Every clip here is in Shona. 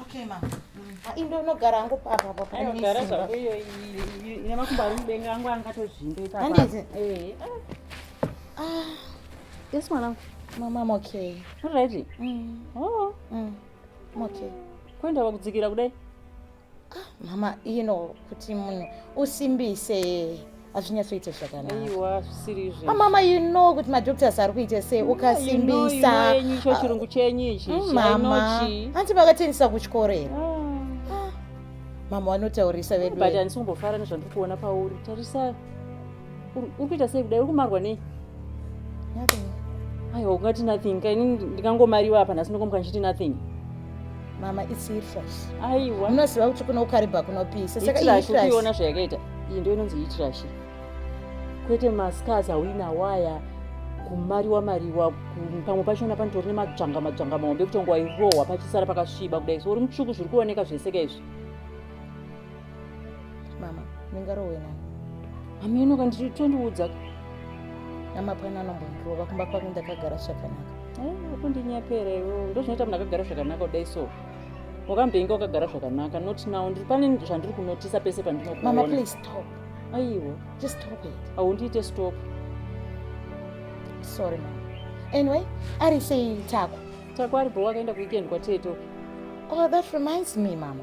Okay ma. Ah, indo unogara hangu papa papa. Unogara zvangu iyo ine makumbo ari mudenga angu angatozvimbe papa. Handizi. Eh. Ah. Yes mwanangu. Mama I'm okay. All right. Mm. Oh. Mm. I'm okay. Kwenda wakudzikira kudai. Ah, mama ino kuti munhu usimbise hazvinyatsoita zvakanamama you know kuti madoctors ari kuita sei ukasimbisa icho chirungu chenyu ichi mm, mama hanti vakatendisa kuchikoreera ah. mama vanotaurisa vedu but handisi kumbofara nezvandiri kuona pauri tarisa uri kuita sei kudai uri kumarwa nei aiwa ungati nothing kaini ndikangomariwa apa nhasi ndokomuka ndichiti nothing mama its hitrash aiwa munoziva kuti kuno ukaribha kunopisa saka iona zvayakaita iyi ndo inonzi hitrash kwete mascars awina waya kumariwa mariwa pamwe pachona panotori nemadzvanga madzvanga mahombe kutongo wairohwa pachisara pakasviba kudai so uri mutsvuku zviri kuoneka zveseka izvi mama ndingarohwe nani hameno ka ndiri tondiudza namapwani anombondirova kumba kwangu ndakagara zvakanaka apo eh, ndinyapera iwo ndozvinoita munhu akagara zvakanaka kudai so wakamboinga wakagara zvakanaka not now ndiri pane zvandiri kunotisa pese pandinokuona aiwo haundiite stop sorry mama anyway ari sei tako tako ari bho wakaenda kuweekend kwateto oh that reminds me mama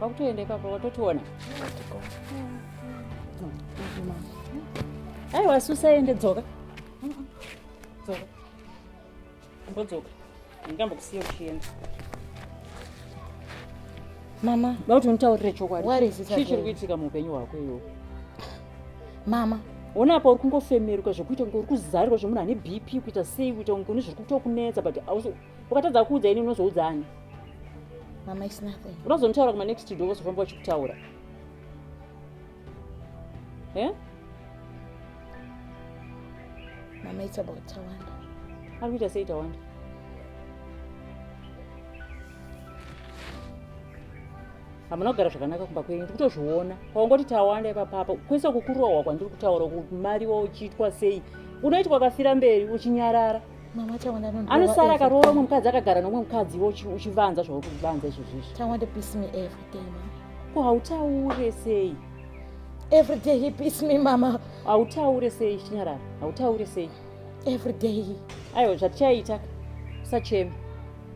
Wakutoenda ipapo watotiona. Hai wasusa ende dzoka. Dzoka. Mbodzoka. Ndingambokusiya uchienda. Mama, vauti unitaurire chokwadi. What is it? Chii chiri kuitika muupenyu hwako iwo? Mama, ona apa uri kungofemeruka zvekuita kunge uri kuzarirwa zvemunhu ane BP kuita sei kuita kunge une zviri kutokunetsa but ukatadza kuudza ini unozoudza ani mama is nothing unozonitaura kuma next door vozofamba vachikutaura eh? mama it's about tawanda ari kuita sei tawanda hamuna kugara zvakanaka kumba kwenyu ndiri kutozviona kwaungoti tawanda ipapapa kwese kukurohwa kwandiri kutaura kuti mari wa uchiitwa sei unoitwa kafira mberi uchinyarara anosara akaroora umwe mukadzi akagara nomwe mukadzi iwe uchivanza zvauri kuvanza izvozvizvi ko hautaure sei every day he beats me mama hautaure sei chinyarara hautaure sei every day aiwa zvatichaita usacheme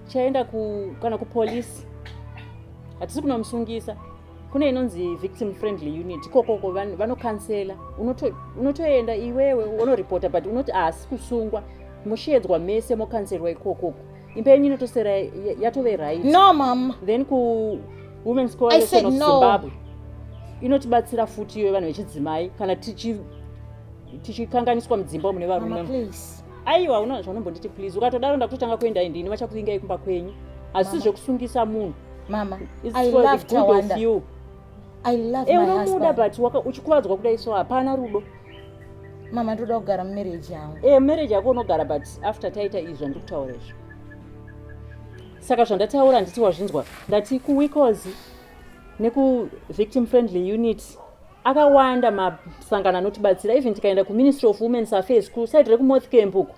tichaenda kana kupolisi hatisi kunomusungisa kune inonzi victim friendly unit ikokoko vanokansela unotoenda unoto iwewe unoripota but unoti haasi kusungwa musheedzwa mese mokanselwa ikokoko imba yenyu inotosera yatove right no mam then kuwomens coalition of no. zimbabwe inotibatsira futi iyoyo vanhu vechidzimai kana tichikanganiswa mudzimba mune varume aiwa uno zvaunombonditi please ukatodaro ndakutotanga kuenda indini vachakuvingai kumba kwenyu hazisi zvekusungisa munhu mama i love tawanda i love eh, my husband unomuda but waka uchikuvadzwa kuda iso hapana rudo mama ndoda kugara mumarriage yangu eh marriage yako unogara but after taita izvi zvandikutaura izvo saka zvandataura nditi wazvinzwa ndati kuwikozi nekuvictim friendly unit akawanda masangano anotibatsira even tikaenda kuministry of womens affairs kuside rekumouth camp uko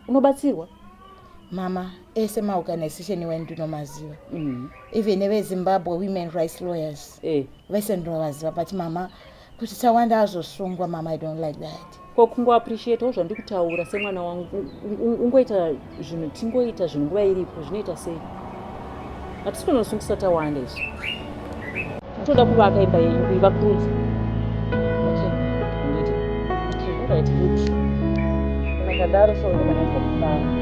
unobatsirwa mama ese maorganization wenu ndinomaziva mm. even evezimbabwe women rights lawyers eh. vese ndinovaziva but mama kuti tawanda azosungwa mama i don't like that ko kungoappreciatawo zvandikutaura semwana wangu ungoita zvinhu tingoita zvinhu nguva iripo zvinoita sei hatisi kunosungisa tawanda izvi toda kuvaka imba yenyu kuivakurudza akadaro soaaaaa